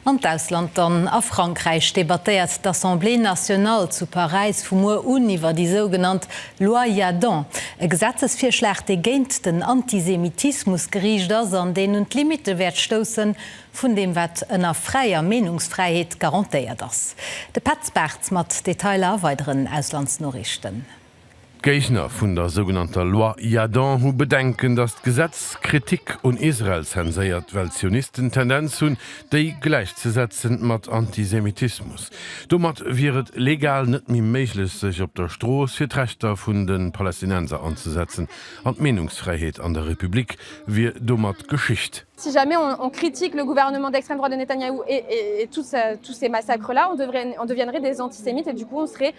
An d'Ausland dann, A Frankräich debattéiert d'Assemblée nationale zu Paräis vu muer un iwwer déi sougenannt Loi Jadon, e Gesetzesvirschlag, dee géint den Antisemitismus geriicht ass an deen un d'Limitte wäert stousse vun deem, wat ënner fräier Meenungsfräiheet garantéiert ass. De Petz Bartz mat Detailer a weideren Auslandsnoriichten. D'Géigner vun der sougenannter Loi Yadon hu Bedenken, datt d'Gesetz d'Kritik un Israel zenséiert, well d'Zionisten d'Tendenz hunn, déi gläichzesetzen mat Antisemitismus. Domat wier et legal net méi méiglech, sech op der Strooss fir d'Rechter vun de Palästinenser anzesetzen an d'Meenungsfräiheet an der Republik wier domat Geschicht. Si jamais on critique le gouvernement d'extrême droite de Netanyahu et tous ces massacres-là, on deviendrait des antisémites et du coup on serait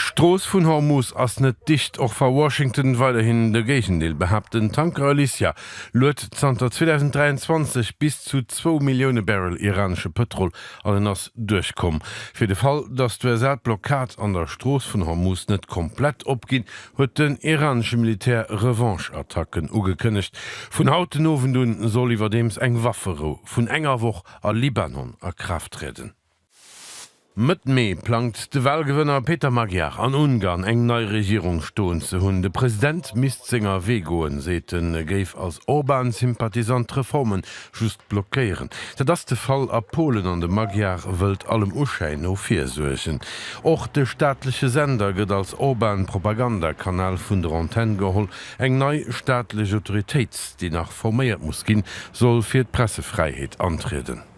D'Strooss vun Hormuz ass net dicht, och wa Washington weiderhin de Géigendeel behaapt. Den Tanker Alicia luet zanter 2023 bis zu zwou Millioune Barrel iranesche Pëtrol an en ass duerchkomm. Fir de Fall, datt d'USA d'Blockad an der Strooss vun Hormuz net komplett opginn, huet den iranesche Militär Revanche-Attacken ugekënnegt. Vun haut den Owend un soll iwwerdeems eng Wafferou vun enger Woch a Libanon a Kraaft trieden. Mëtt Mee plangt de Walgewënner Peter Magyar an Ungarn eng nei Regierung stoen ze hunn. De President misst senger Wee goen, seet en. E géif als Orban-Sympathisant d'Reforme just blockéieren. Dat ass de Fall a Polen an de Magyar wëllt allem Uschäin no virsuergen. Och de staatleche Sender gëtt als Orban-Propagandakanal vun der Antenn geholl. Eng nei staatlech Autoritéit, déi nach forméiert muss ginn, soll fir d'Pressefräiheet antrieden.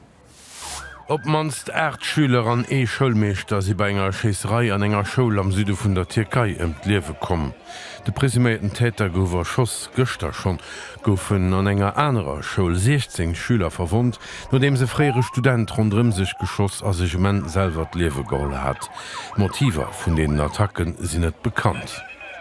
Op d'mannst 8 Schüler an ee Schoulmeeschter si bei enger Schéisserei an enger Schoul am Süde vun der Tierkei ëm d'Liewe komm. De presuméierten Täter gouf erschoss. Gëschter schonn goufen an enger anerer Schoul 16 Schüler verwonnt, nodeems e fréiere Student ronderëm sech geschoss a sech um Enn selwer d'Liewe geholl hat. D'Motiver vun deenen Attacke sinn net bekannt.